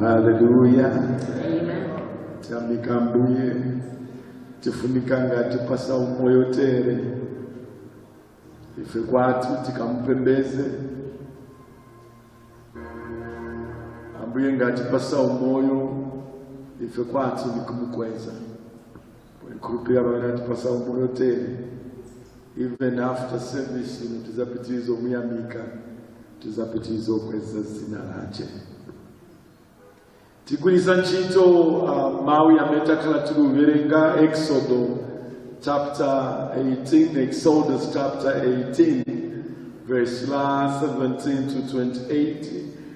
haleluya tamika ambuye tifunika ngati atipatsa umoyo tere ife kwathu tikamupembeze ambuye ngati atipatsa umoyo ife kwathu nikumukweza Kulupira ngati atipatsa umoyo tere. Even after service tizapitiriza kumuyamika. Tizapitiriza kukweza zina lache. Tigwiritsa ntchito uh, mawu yamene takhala tikuwerenga Exodo chapter 18, Exodus chapter 18, verse la 17 to 28,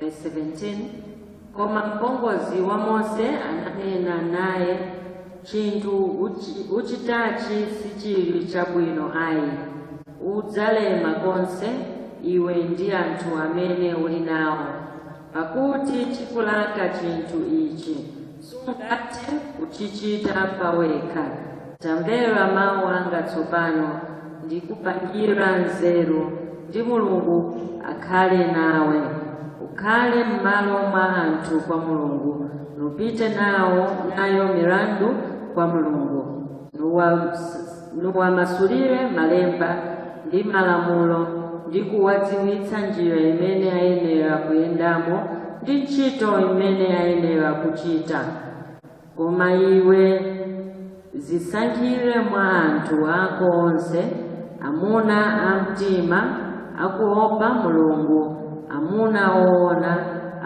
Verse 17 koma mpongozi wa mose ananena naye chinthu uchi- uchitachi sichili chabwino ayi udzalema konse iwe ndi anthu amene uli nawo pakuti chikulaka chinthu ichi sungathe kuchichita pawekha. Tamvera mawu anga tsopano, ndikupangira nzeru, ndi Mulungu akhale nawe. Ukhale m'malo mwa anthu kwa Mulungu, nupite nawo nayo milandu kwa Mulungu, nuwa nuwamasulire malemba ndi malamulo ndi kuwadziwitsa njira imene ayenera kuyendamo ndi ntchito imene ayenera kuchita koma iwe dzisankhire mwa anthu ako onse amuna amtima akuopa mulungu amuna oona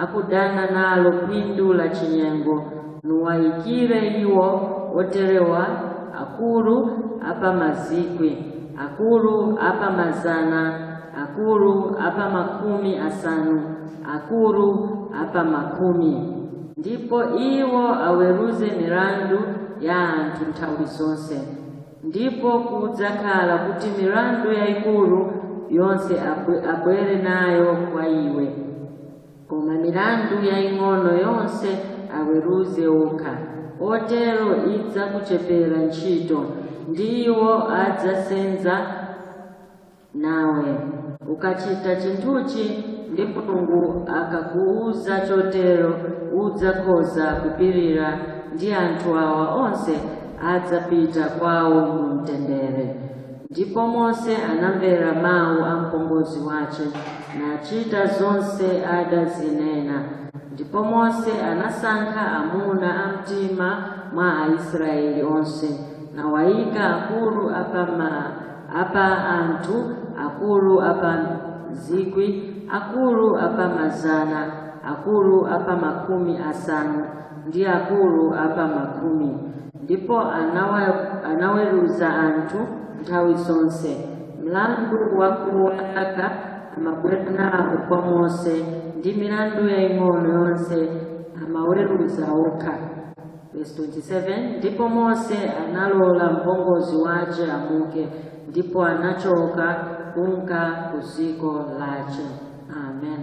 akudana nalo phindu la chinyengo nuwaikire iwo oterewa akulu a pa mazikwi akulu a pa mazana akulu a pa makumi asanu akulu a pa makumi ndipo iwo aweruze milandu ya anthu nthawi zonse ndipo kudzakhala kuti milandu yayikulu yonse abwere nayo kwa iwe koma milandu yaing'ono yonse aweruze okha, otero idzakuchepera ntchito, ndi iwo adzasenza nawe. Ukachita chinthuchi ndi Mulungu akakuuza chotero, udzakhoza kupirira ndi anthu awa onse adzapita kwawo mu mtendere. Ndipo Mose anamvera mawu a mpongozi wace, nacita zonse adazinena. Ndipo Mose anasankha amuna a mtima mwa Aisrayeli onse, nawaika akuru a pa ma- a pa anthu, akuru a pa zikwi, akuru a pa mazana, akuru a pa makumi asanu, ndi akuru a pa makumi. ndipo anawa- anaweruza anthu nthawi zonse mlandu wakuwalaka amabwera nawo kwa mose ndi milandu yaying'ono yonse amaweruza okha Verse 27 ndipo mose analola mpongozi wace amuke ndipo anachoka kunka ku dziko lace amen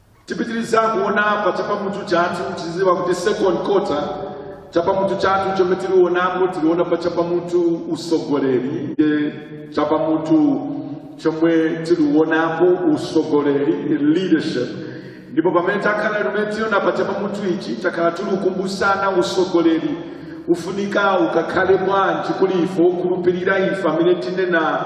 tipitiriza kuona pa chapamutu chathu tiziwa kuti second quarter chapamutu chathu chomwe tilionapo tiliona pa chapamutu usogoleri e chapamutu chomwe tilionapo usogoleri leadership ndipo pamene takhala limene tiona pa chapamutu ichi takhala tilikumbusana usogoleri ufunika ukakhale bwanji kuli ife okhulupirira ife amene tinena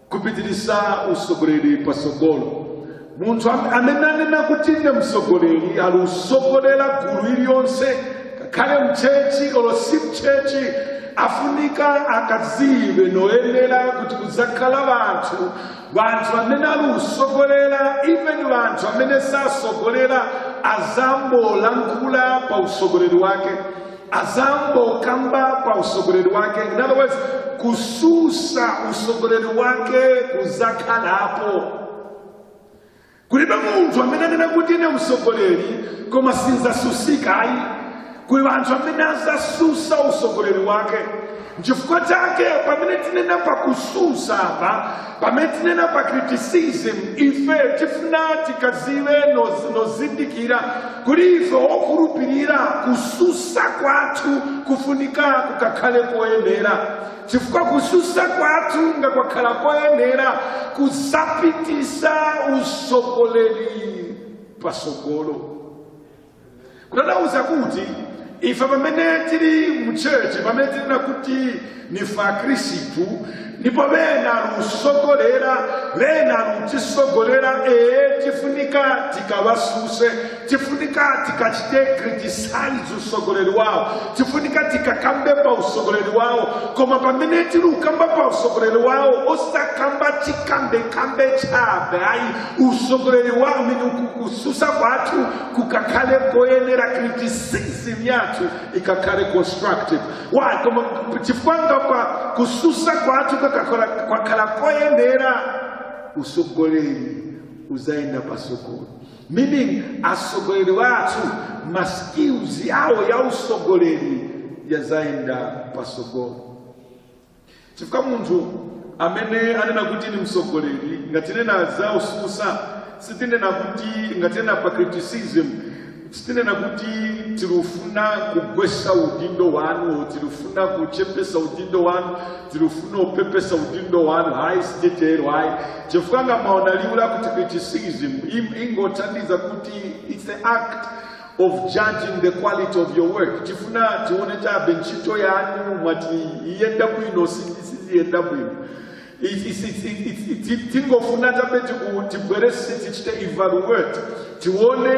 kupitiriza usogoleri pasogolo munthu am- amene anena kuti ine msogoleri ali usogolera gulu iliyonse kakhale mchechi olo si mchechi afunika akazibe noyenera kuti kudzakhala vanthu vanthu amene ali usogolera even vanthu amene sasogolera azambolankhula pa usogoleri wake azangokamba pa usogoleri wake in other words kususa usogoleri wake kuzakhalapo kulibe munthu amene anena kuti ine usogoleri koma sinzasusika ayi kuli anthu amene azasusa usogoleri wake nchifukwa chake pamene tinena pa kususa apa pamene tinena pa criticism ife tifuna tikaziwe noz- nozindikira kuli ife okhulupirira kususa kwathu kufunika kukakhale koyenera chifukwa kususa kwathu ngakwakhala koyenera kuzapitisa usogoleri pasogolo kutanthauza kuti ife pamene tili mu church pamene tinena kuti nife akhristu ndipo bena alusogolera bena alutisogolera ee tifunika tikawasuse tifunika tikachite criticize usogoleri wawo tifunika tikakambe pa usogoleri wawo koma pamene tili ukamba pa usogoleri wawo osakamba chikambekambe chabe ayi usogoleri wawo mene kususa kwathu kukakhale koyenera criticism yathu ikakhale constructive why koma chifukwa kwa kususa kwathu kakakhala kwakhala koyenera usogoleri uzayenda pasogolo meaning asogoleri wathu maskills yawo ya usogoleri yazayenda pasogolo chifukwa munthu amene anena kuti ni msogoleri ngati nena za ususa sitinena kuti ngati nena pa criticism sitinena kuti tilufuna kugwesa udindo wanu tilufuna kuchepesa udindo wanu tilufuna upepesa udindo wanu hayi sitetero hayi chifukwa ngamaona liwu lakuti criticism im- ingotanthauza kuti it's the act of judging the quality of your work tifuna tione chabe ntchito yanu mwati iyenda bwino siyenda bwino tingofuna chabe tibwerese tichite evaluate tione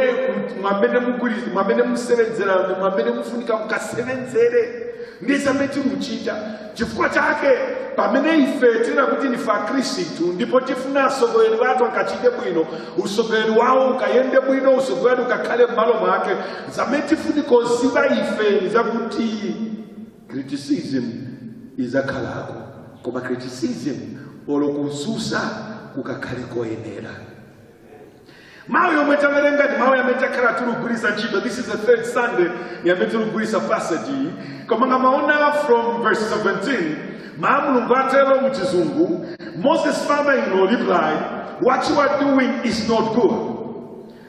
mwamene musevenzera mwamene mufunika mukasevenzere ndizamene timuchita Chifukwa chake, pamene ife tinena kuti nife Akristu ndipo tifuna asogoleri bathu akachite bwino, usogoleri wawo ukayende bwino, usogoleri ukakhale m'malo mwake, zamene tifunika kuziba ife ni zakuti criticism izakhalako koma criticism olo kususa kukakhale koyenera. mawu yomwe tawerenga ndi mawu yamene takhala tikugwiritsa ntchito this is the third sunday yamene tikugwiritsa passage iyi koma ngamwaona from verse 17 mawu a mulungu atero mu chizungu moses father in law replied what you are doing is not good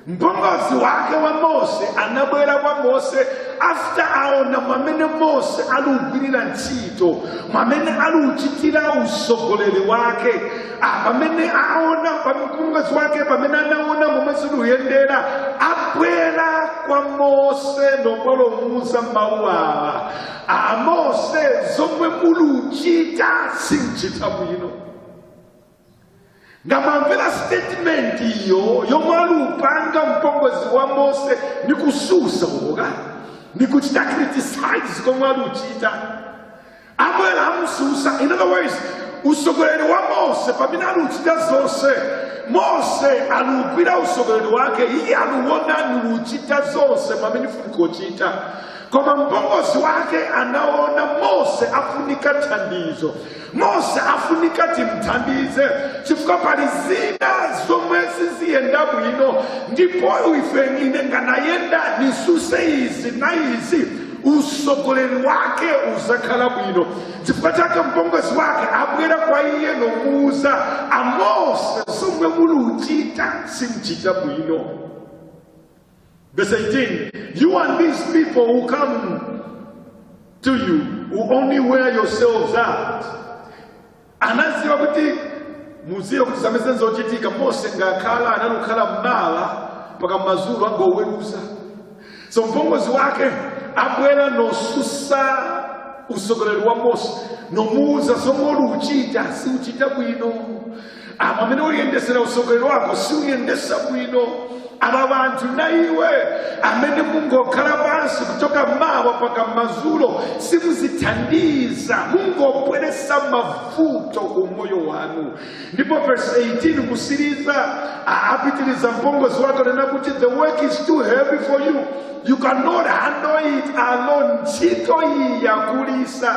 mpongozi wake wa mose anabwera kwa mose after waona mwamene mose aliugwirira ntchito mwamene aliuchitira usogoleri wake Ah, pamene aona mpongozi wake pamene anaona momwe ziluyendera abwera kwa mose nobwelomuuza mawu awa a mose zomwe muluchita simchita bwino ngamwamvera statement iyo yomwe alupanga mpongozi wa mose ni kususa or ni kuchita criticize komwe aluchita abwera amususa in other words usogoleri wa mose pamene aluchita zonse mose alugwira usogoleri wake iye aluwona niluchita zonse zamene nifunikochita koma mpongozi wake anaona mose afunika thandizo mose afunika timthandize chifukwa pali zina zomwe siziyenda bwino ndipo ife ine nganayenda nisuse izi na izi usogoleri wake uzakhala bwino chifukwa chake mpongozi wake abwera kwa iye nomuuza amose zomwe muluchita simchita bwino verse 18 you and these people who come to you will only wear yourselves out anaziwa kuti muziwe kuti zamene nzochitika mose ngakhala anali kukhala m'mawa mpaka m'mazulo angoweruza so mpongozi wake abwera nosusa usogoleri wa mose nomuuza zomwe uchita si uchita bwino amene uliyendesera usogoleri wako si uyendesa bwino aba bantu naiwe amene mungokhala pansi kuchoka mawa paka mazulo simuzithandiza mungopweresa mavuto ku moyo wanu ndipo verse 18 kusiriza a- apitiriza mpongozi wake nena kuti the work is too heavy for you you cannot handle it alone ntchito iyi yakulisa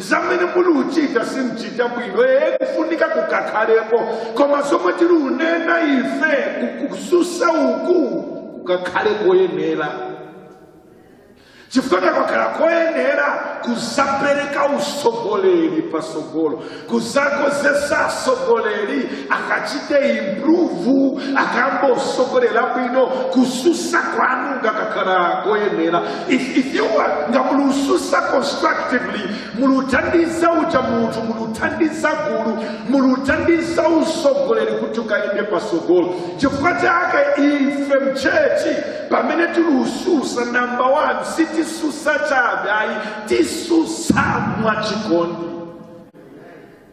zamene muli uchita simchita bwino ee kufunika kukakhalepo koma zomwe tili unena ife ku- kususa uku kukakhale koyenera chifukwa takakhala koyenera kuzapereka usogoleri pasogolo kuzakozesa asogoleri akachite improve akamba usogolela bwino kususa kwanu ngakakhala koyenera If, if you are ngamulususa constructively muluthandiza uja munthu muluthandiza gulu muluthandiza usogoleri kuti ukayende pasogolo chifukwa chake ife mchechi pamene tilususa namba 1 sitisusa chabe ayi tisusa mwachikondi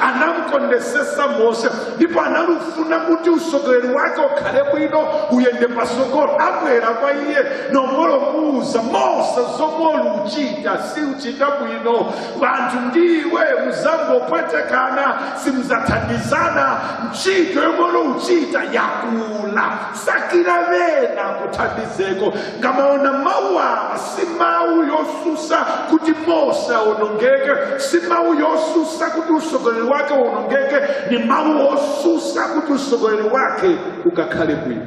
anamkondesesa mose ndipo analufuna kuti usogoleri wake ukhale bwino uyende pasogolo abwera kwa iye nongolo muuza mose zomwe uluchita si uchita bwino wanthu ndiwe muzangopwetekana simuzathandizana ntchito yomwe uluchita yakula sakira vena kuthandizeko ngamaona mawu awa si mawu yosusa kuti mose awonongeke si mawu yosusa kuti usogoleri wake uwonongeke ni mawu osusa kuti usogoleri wake ukakhale bwino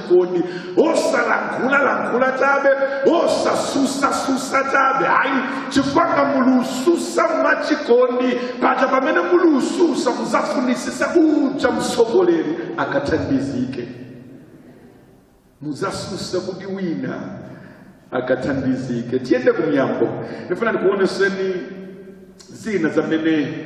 chikondi osalankhulalankhula chabe osasusasusa chabe ayi chifukwa mulususa mwachikondi paja pamene mulususa muzafunisisa uja msogoleri akathandizike muzasusa kuti wina akathandizike tiyende ku miyambo nifuna nikuoneseni zina zamene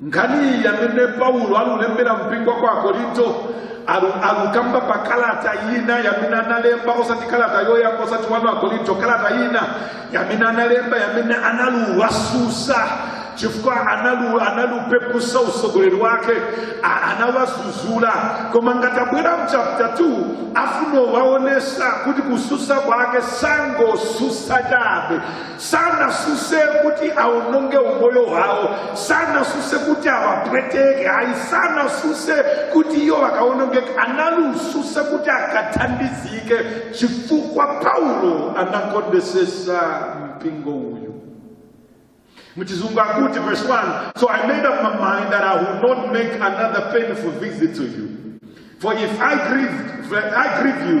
nkhaniyi yamene paulo alulembera mpingo kwa akorinto alu- alukamba pa kalata ina yamene analemba osati kalata yoyamba osati wanu akorinto kalata ina yamene analemba yamene analuwasusa chifukwa analu analupepusa usogoleri wake a- anawazuzula koma ngatabwera mchapita 2 afuno waonesa kuti kususa kwake sangosusa chabe sanasuse kuti awononge umoyo wawo sanasuse kuti awapweteke ayi sanasuse kuti iyo wakawonongeke analususa kuti akathandizike chifukwa paulo anakondesesa mpingo uyu muchizungu akuti verse 1 so i made up my mind that i will not make another painful visit to you for if i grieve, if I grieve you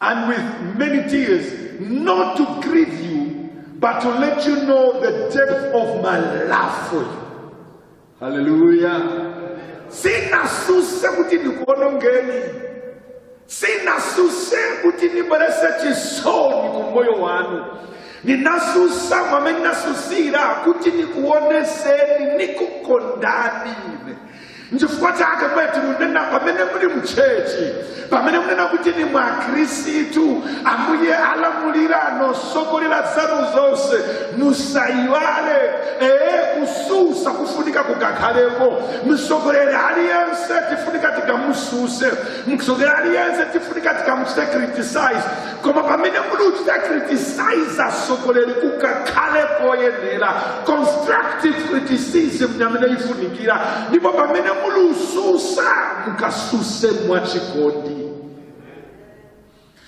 and with many tears, not to grieve you, but to let you know the depth of my love for you. Hallelujah. sinasuse kuti nikuonongeni sinasuse kuti nibwerese chisoni ku moyo wanu ninasusa mwamene nasusira kuti nikuoneseni nikukondani nchifukwa chake pamene tikunena pamene muli mchechi pamene munena kuti ni mwa khristu ambuye alamulira nosogolera zanu zonse musayiwale ee kususa kufunika kukakhalepo msogolere aliyense tifunika tikamususe msogolere aliyense tifunika tikamuchite criticize koma pamene muli uchita criticize asogoleri kukakhale koyenera constructive criticism ni yamene ifunikira ndipo pamene muli ususa mukasuse mwachikondi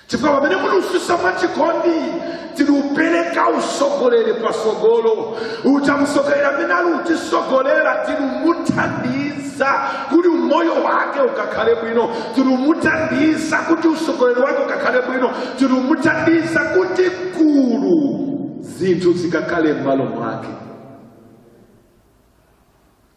chifukwa pamene muli ususa mwachikondi tiri upereka usogoleri pasogolo uja musogoleri amene ali utisogolera tiri umuthandiza za kuti umoyo wake ukakhale bwino tiri umuthandiza kuti usogoleri wake ukakhale bwino tiri umuthandiza kuti gulu zinthu zikakhale m'malo mwake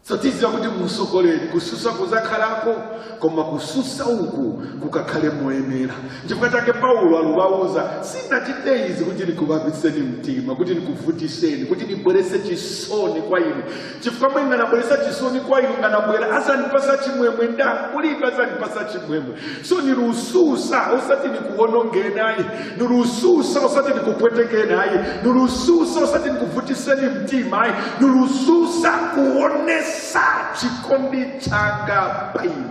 so tiziwa kuti musogoleri kususa kuzakhalako koma kususa uku kukakhale moyenera chifukwa chake paulo alubauza sinachite izi kuti nikubabiseni mtima kuti nikuvutiseni kuti nibwerese chisoni kwa inu chifukwa mwe nganabweresa chisoni kwa inu nganabwera azandipasa chimwemwe nda kulibe azandipasa chimwemwe so nilususa osati nikuwonongeni ayi nilususa osati nikupwetekeni ayi nilususa osati nikuvutiseni mtima ayi nilususa kuonesa chikondi changa pa inu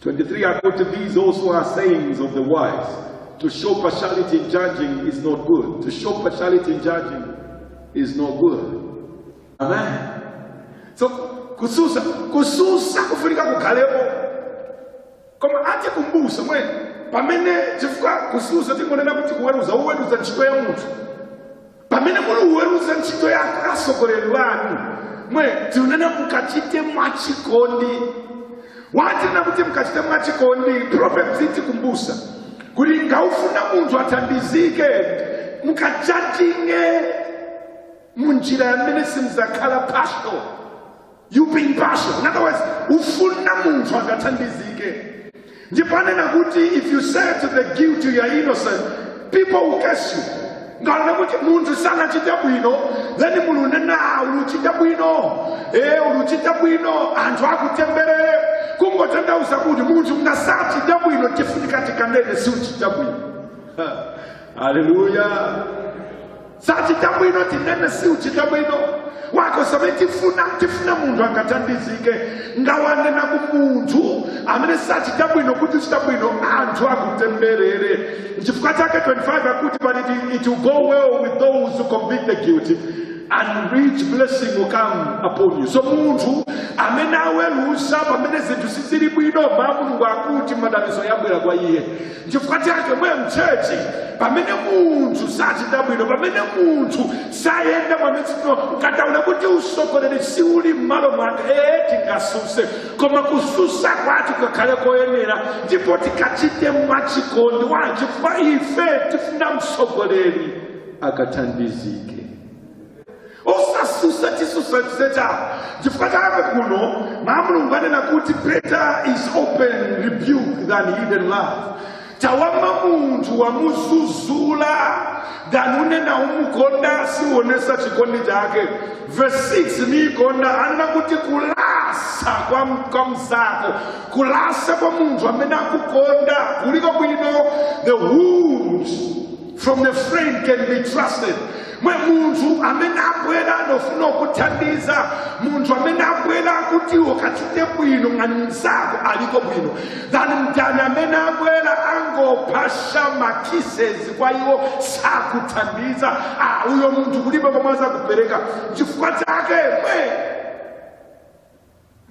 23 akuti these also are sayings of the wise. To show partiality in judging is not good. To show partiality in judging is not good. Amen. So kususa kususa kufunika kukhalepo koma atikumbusa mwe pamene chifukwa kususa tingonena kuti kuweruza uweruza ntchito ya munthu pamene muli uweruza ntchito ya atsogoleri wanu mwe tiunena mukachite mwachikondi watina kuti mukachite mwachikondi Proverbs itikumbusa kuti ngaufuna munthu athandizike mukajajinge munjira yamene simuzakhala partial you being partial in other words ufuna munthu akathandizike ndipo anena kuti if you say to the guilty you are innocent people will curse you ngaona kuti munthu sanachita bwino then muli unena "Ah, uluchita bwino e uluchita bwino anthu akutemberere kungotanthauza kuti munthu ngasachita bwino tifunika tikanene siuchita bwino haleluya sachita bwino tinene si uchita bwino because zamene tifuna tifuna munthu akathandizike ngawanena ku munthu amene sachita bwino kuti uchita bwino anthu akutemberere nchifukwa chake 25 akuti but it, it will go well with those who convict the guilty and rich blessing will come upon you so munthu amene aweruza pamene zinthu sizili bwino ba mulungu akuti madalitso yabwera kwa iye chifukwa chake mwe mchechi pamene munthu sachita bwino pamene munthu sayenda mwamitsino ngataona kuti utsogoleri si uli m'malo mwake ee tingasuse koma kususa kwathu kakhale koyenera ndipo tikachite mwachikondi wanji chifukwa ife tifuna mtsogoleri akathandizike osasusa chisusa chisecha chifukwa chake kuno ba mulungu anena kuti better is open rebuke than hidden love chawama munthu wamuzuzula than unena umukonda siuonesa chikondi chake verse 6 niikonda anena kuti kulasa kwa, m- kwa mzako kulasa kwa munthu amene akukonda kuliko bwino the wounds from a friend can be trusted mwe munthu amene abwera nofuna kuthandiza munthu amene abwera kuti ukachite bwino ngati mnzako aliko bwino than mdani amene abwera angopasa ma kisses kwa iwe sakuthandiza ah, uyo munthu kulibe komwe azakupereka chifukwa chake mwe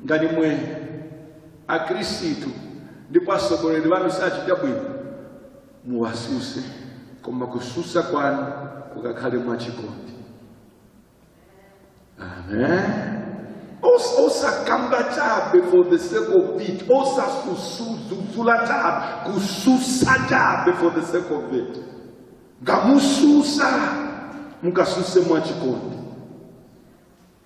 ngali mwe akristu ndipo atsogoleri banu sachita bwino muwasuse koma kususa kwanu kukakhale mwachikondi amen Os- osakamba chabe for the sake of it osasuzula chabe kususa chabe for the sake of it ngamususa mukasuse mwachikondi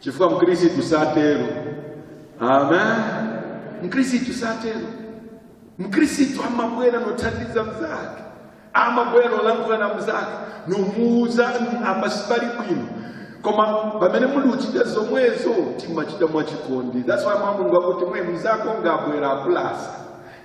chifukwa mkhristu satero amen mkhristu satero mkhristu amabwera nothandiza mzake amabwera nolankhula na mzake nomuuza "Mm, apa sipali bwino koma pamene muli uchita zomwezo timachita mwachikondi that's why mawu a Mulungu akuti mwe mzako ngabwera akulasa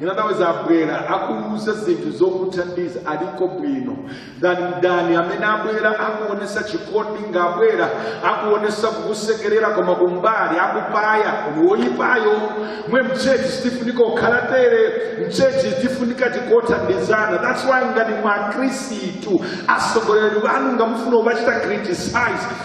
in other words abwera akuuza zinthu zokuthandiza aliko bwino kuli mdani amene abwera akuonesa chikondi ngabwera akuonesa kukusekerera koma kumbali akupaya kuli woyipayo mwe mchechi sitifunika kukhala tere mchechi tifunika tikothandizana that's why ngani makhristu atsogoleri banu ngamufuna kubachita criticize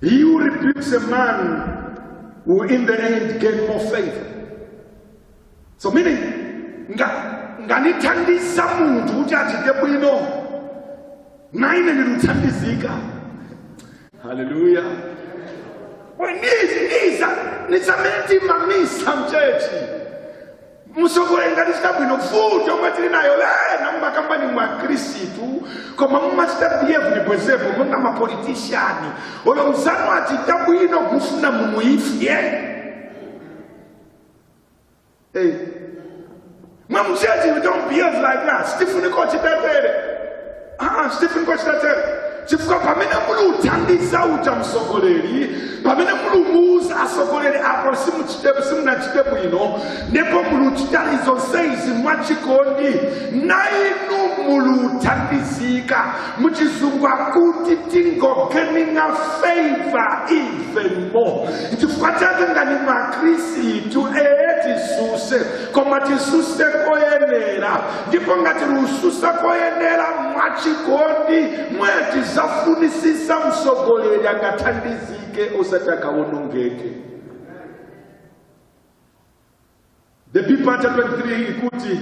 He who rebukes a man will in the end gain more favor. So meaning nganithandiza munthu kuti achite bwino na ine ndiluthandizika haleluya ni same time-time misa mchechi msogoleri ngachita bwino futi omwe tili nayo lena mumakamba ni makhristu koma mumachita behave ni bwezepo monga mapolitishani olo mzanu achita bwino kufuna mumuifye hey. mwa muchechi we don't behave like that sitifunikochita tere Ah, sitifunikochita tero chifukwa pamene muli uthandiza uja msogoleri pamene muli umuuza asogoleri apo simuchite- simunachite bwino ndipo muli uchita zonse izi mwachikondi na inu muli uthandizika muchizungu akuti tingogeninga favor even more chifukwa chake ngani makristu ee tisuse koma tisuse koyenera ndipo ngati lususa koyenera mwachikondi mwachita zofunisisa msogoleri akathandizike osati akawonongeke the B part chapter 23 ikuti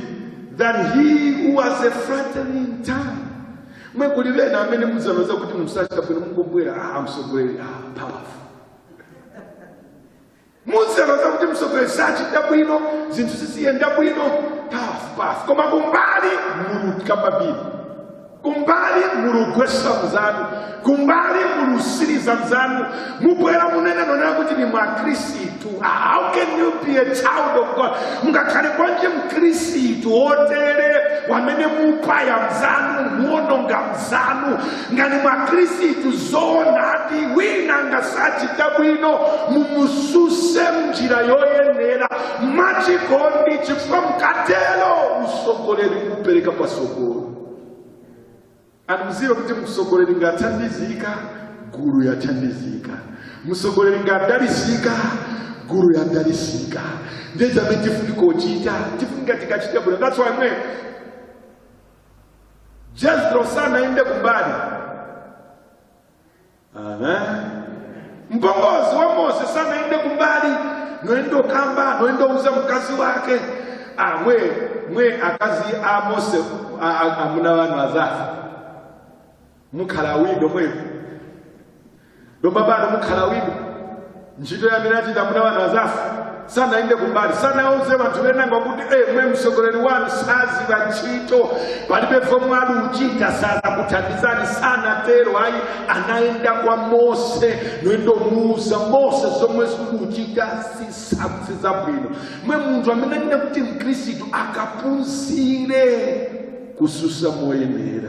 than he who has a flattering tongue mwe kuli bena amene muzanowona kuti msachita bwino mungobwera ah msogoleri ah powerful muzitangaza kuti mtsogoleri sachita bwino zinthu siziyenda bwino tough path koma kumbali muluka pambiri kumbali mulugwesa mzanu kumbali mulusiriza mzanu mubwera munene nonena kuti ni mwakhristu Ah, how can you be a child of god mungakhale bwanji mkhristu otere wamene mupaya mzanu muononga mzanu nga ni mwakhristu zoonadi wina nga sachita bwino mumususe mnjira yoyenera mwachikondi chifukwa mukatero usogoleri kupereka pasogolo and muzive kuti musogoleri ngathandizika gulu yathandizika musogoleri ngadalisika gulu yadalisika ndezamene tifunika kuchita tifunika tikachita bwino that's why mwe jethro sanayende kumbali Amen. mpongozi wa mose sanayende kumbali noyenda okamba noyenda ouza mukazi wake Ah, mwe mwe akazi a mose a- a- amuna wanu azafa mukhala bwino mwevo lomba pano mukhala bwino ntchito yamene achita muna wanu azafu sanayende kumbali sanauze vanthu venanga kuti emwe mtsogoleri wanu saziva ntchito palibe vomwe aluchita sazakuthandizani sanatero ayi anayenda kwa mose noyendomuuza mose zomwe zikuchita si sizabwino mwe munthu amene anena kuti mkhristu akapunzire kususa moyenera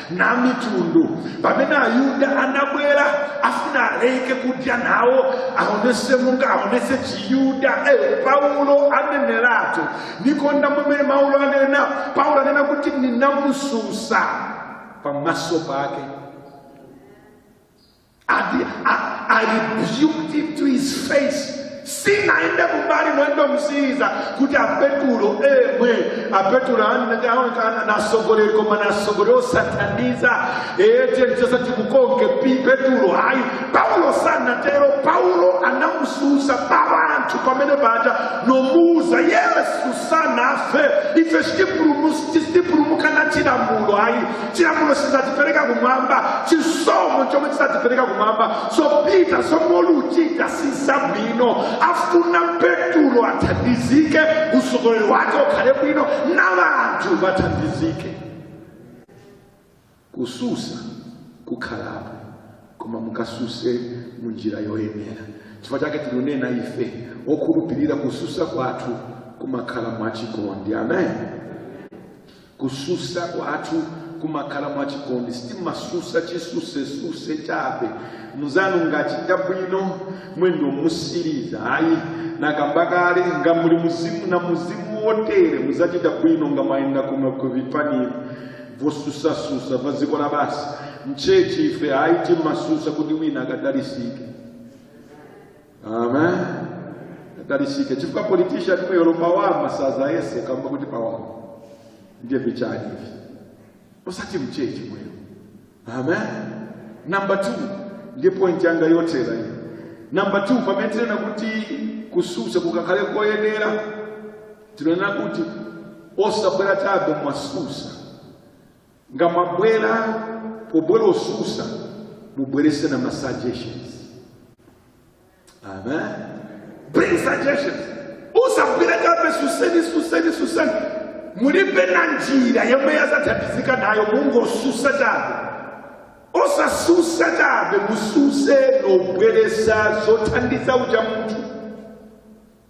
na mitundu pamene ayuda anabwera afuna aleke kudya nawo aonese monga aonese chiyuda eh, paulo aneneratu nikonda mwamene paulo anena paulo anena kuti ninamususa pamaso pake Ati I, I rebuked him to his face. sinaende kumbali mwendo musiriza kuti apetulo emwe apetulo nasogoleri koma nasogoleri osathandiza echenjeza timukonke petulo ayi paulo sanatero paulo anamususa pavanthu pamene paja nomuuza yesu sanafe ife sitipulumuka na chilamulo ayi chilamulo sizatipereka kumwamba chisomo chomwe chizatipereka kumwamba so Peter zomwe uluchita sizabwino afuna petulo athandizike usogoleri wake ukhale bwino na vanthu vathandizike kususa kukhalapo koma mukasuse mu njira yoyenera chifukwa chake tinunena ife okhulupirira kususa kwathu kumakhala mwachikondi amen Kususa kwathu kumakhala mwachikondi sitimasusa chisusesuse chabe muzanu ngachita bwino mwendo musiriza ayi nakamba kale nga muli muzimu na muzimu wotere muzachita bwino nga mwayenda kuno kuvipani la vosusasusa vaziko la basi mchechi ife ayi timasusa kuti wina akadalisike amen akadalisike chifukwa politician mwe yolopawama saza yese kamba kuti pawama ndiye vichani hivi osati mchechi mwero amen namba 2 ndiye point yanga yotera iyo namba 2 pamene tinena kuti kususa kukakhale koyenera tinena kuti osabwera chabe mwasusa nga mwabwera pobwera osusa mubwerese na ma suggestions amen bring suggestions osabwera chabe suseni suseni suseni mulibe na njira yomwe yazathandizika nayo mungosusa chabe osasusa chabe mususe nobweresa zothandiza uja munthu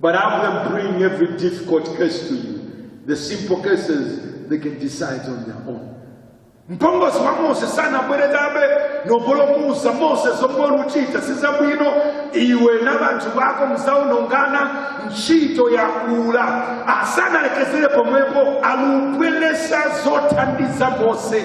But have them bring every difficult case to you. The simple cases they can decide on their own. mpongozi wa mose sanabwere chabe nobolomuza mose zomwe uluchita sizabwino iwe na banthu bako mzaonongana ntchito yakula asanalekezere pomwepo alubweresa zothandiza mose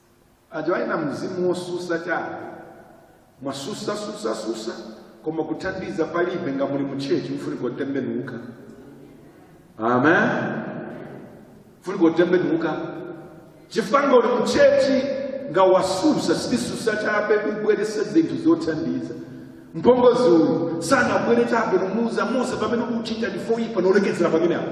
aja ali na mzimu wosusa chabe mwasusa susa susa koma kuthandiza palibe nga muli muchechi mufunika kutembenuka amen mufunika kutembenuka chifukwa nga uli muchechi nga wasusa sususa chabe ubweresa zinthu zothandiza mpongozi uyu sanabwere chabe nomuuza mose fomwe ukuchita ndi foyipa nolekezera pamene apo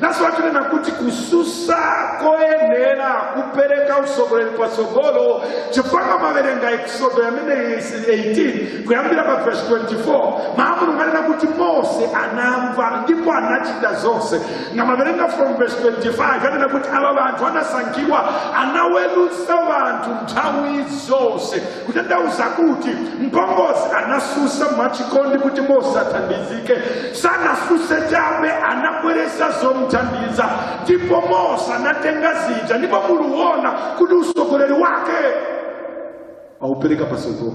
nasotinena kuti kususa koyenera kupereka usogoleri pa tsogolo chifukwa maverenga eksodo yamene 18 kuyambira pa verse 24 maamulu nganena kuti mose anamva ndipo anachita zonse nga maverenga from verse 25 yanena kuti ava vanthu anasankhidwa anawelusa vanthu nthawi zonse kutanthauza kuti mpongozi anasusa mwachikondi kuti mose athandizike sanasuse chabe anabweresa zomthandiza ndipo mose anatenga zija ndipo muluona kuti usogoleri wake aupereka pasogolo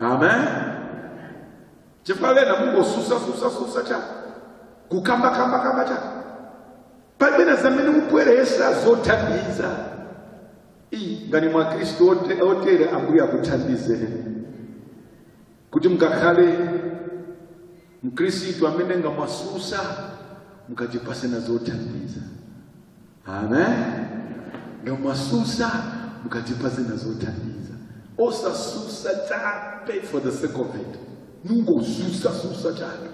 amen chifukwa bena mungosusa susa susa cha kukamba kamba kamba cha pamene zamene mubweresa zothandiza iyi ngati ni mwe khristu ote- otere ambuye akuthandizeni kuti mukakhale mkhristu amene ngamwasusa mukatipase na zothandiza amen nga mwasusa mukatipase nazothandiza osasusa chape for the sake of it mungosusa susa chape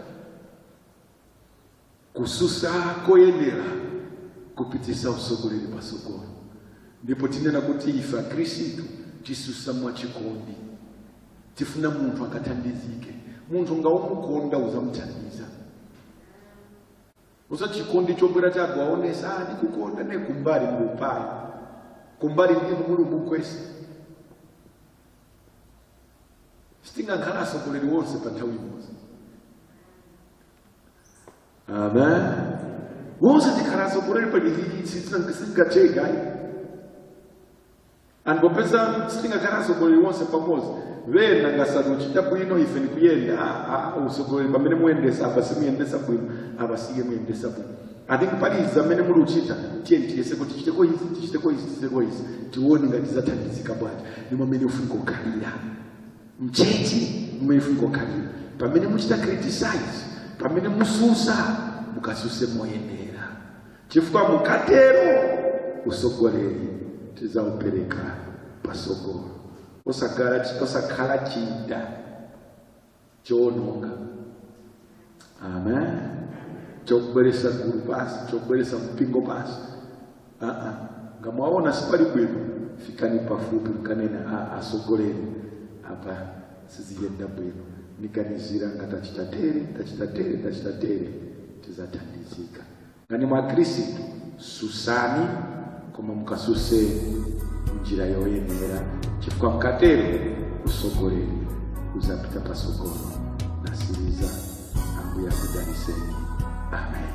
kususa koyenera kupitisa usogoleri pasogolo ndipo tinena kuti ife akhristu tisusa mwachikondi tifuna munthu akathandizike munthu nga umukonda uzamuthandiza Osati chikondi chobwera chabe waonesa ah, ndikukonda ne kumbali mulupali kumbali ndinu muli ubugwesa sitingakhale asogoleri wonse pa nthawi imodzi amen wonse tikhala asogoleri pa chizikitsi sichingatheke Ndipo popeza sitingakhale atsogoleri wonse pamodzi vena ngasanuchita bwino ife nikuyenda ah, ah, usogoleri pamene muyendesa apa simuyendesa bwino apa simuyendesa bwino i think pali zamene muli kuchita tiye tiyese kuti tichiteko izi tichiteko izi tichiteko izi tione ngati zathandizika bwanji ni mwamene ufunika kukhalira mchechi mmene ufunika kukhalira pamene muchita criticize pamene mususa mukasuse moyenera chifukwa mukatero usogoleri tizaupereka pasogolo osakhala osakhala chida choononga amen chokubweresa gulu pasi chokubweresa mpingo pasi aa nga mwaona sipali bwino fikani pafupi mukanene asogoleri apa siziyenda bwino niganizira nga tachita tere tachita tere tachita tere tizathandizika nga ni mwa khristu susani koma mukasuse njira yoyenera chifukwa mkatero usogoleri uzapita pasogolo nasiriza ambuye akudaliseni amen